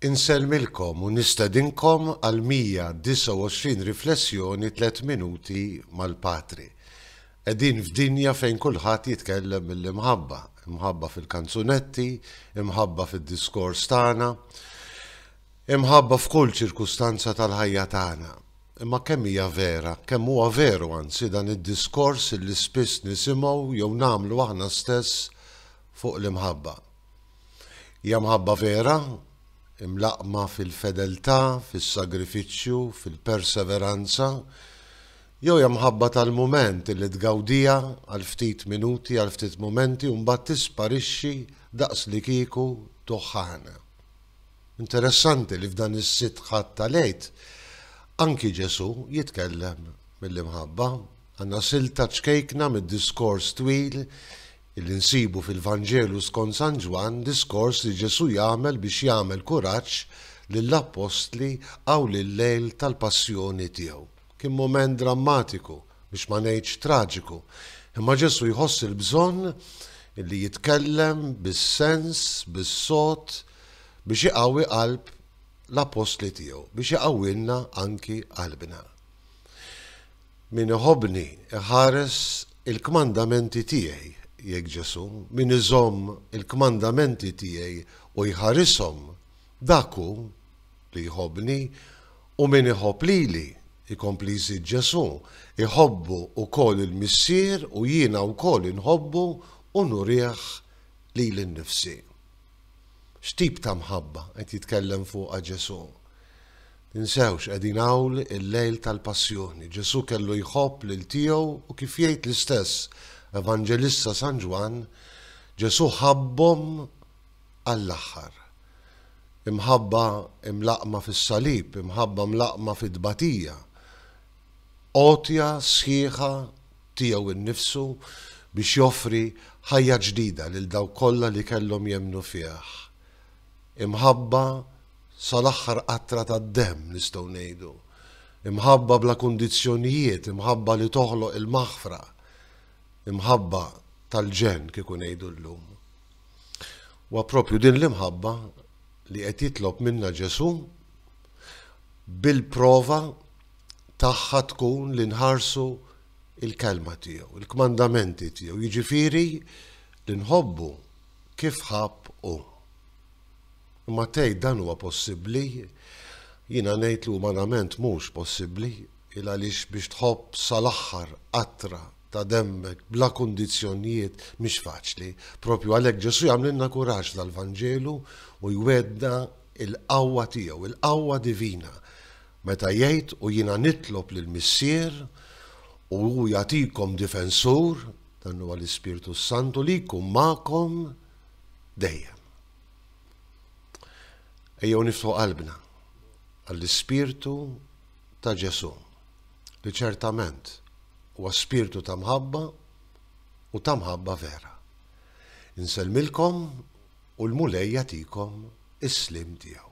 Insellmilkom u nistedinkom għall-129 riflessjoni Tliet Minuti mal-Patri. Qegħdin f'dinja fejn kulħadd jitkellem mill-imħabba, imħabba fil-kanzunetti, imħabba fid-diskors tagħna, imħabba f'kull ċirkustanza tal-ħajja tagħna. Imma kemm hija vera, kemm huwa veru anzi dan id-diskors li spiss nisimgħu jew nagħmlu aħna stess fuq l-imħabba. Hija mħabba vera, imlaqqma fil-fedeltà, fis-sagrifiċċju, fil-perseveranza, jew hija mħabba tal-mument li tgawdiha għal ftit minuti, għal ftit mumenti u mbagħad tisparixxi daqslikieku tuħħana. Interessanti li f'dan is-sitt ħadd tal-Għid anki Ġesù jitkellem mill-imħabba. Għandna silt ta' ċkejkna mid-diskors twil li nsibu fil-Vanġelu skont San Ġwann, diskors li Ġesù jagħmel biex jagħmel kuraġġ lill-appostli hawn il-lejl tal-passjoni tiegħu. Kien mument drammatiku, biex ma ngħidx traġiku, imma Ġesù jħoss il-bżonn li jitkellem bis-sens, bis-sod, biex iqawwi qalb l-appostli tiegħu, biex iqawwilna anki qalbna. Min iħobbni jħares il-kmandamenti tiegħi, jgħid Ġesù, min iżomm il-kmandamenti tiegħi u jħarishom, dak hu li jħobbni, u min iħobb lili, ikompli jżid Ġesù, iħobbu wkoll il-Missier u jiena wkoll inħobbu u nurih lili nnifsi. X'tip ta' mħabba qed jitkellem fuqha Ġesù? Ninsewx, qegħdin hawn il-lejl tal-Passjoni. Ġesù kellu jħobb lil tiegħu u kif jgħid l-istess Evanġelista San Ġwann, Ġesù ħabbhom għall-aħħar. Imħabba mlaqqma fis-salib, imħabba mlaqqma fit-tbatija. Għotja sħiħa tiegħu nnifsu biex joffri ħajja ġdida lil dawk kollha li kellhom jemmnu fih. Imħabba sal-aħħar qatra tad-demm, nistgħu ngħidu. Imħabba bla kundizzjonijiet, imħabba li toħloq il-maħfra, imħabba tal-ġenn kieku ngħidu llum. Wa propju din l-imħabba li qed jitlob minna Ġesu bil-prova tagħha tkun li nħarsu il-kelma tiegħu, il-kmandamenti tiegħu, jiġifieri li nħobbu kif ħabb u. Imma tgħid dan huwa possibbli? Jiena ngħid li umanament mhux possibbli, il għaliex biex tħobb sal-aħħar qatra ta' demmek bla kundizzjonjiet mhix faċli. Propju għalhekk Ġesù jagħmlilna kuraġġ dal-Vanġelu u jwedna il-qawwa tiegħu, il-qawwa divina, meta jgħid u jiena nitlob lill-Missier u hu jagħtikom difensur, dan huwa l-Ispirtu s-Santu li jkun magħkom dejjem. Ejjew niftu qalbna għall-ispirtu ta' Ġesu, li ċertament huwa spirtu ta' mħabba u ta' mħabba vera. Inselmilkom u l-Mulej jatikom is-slim tiegħu.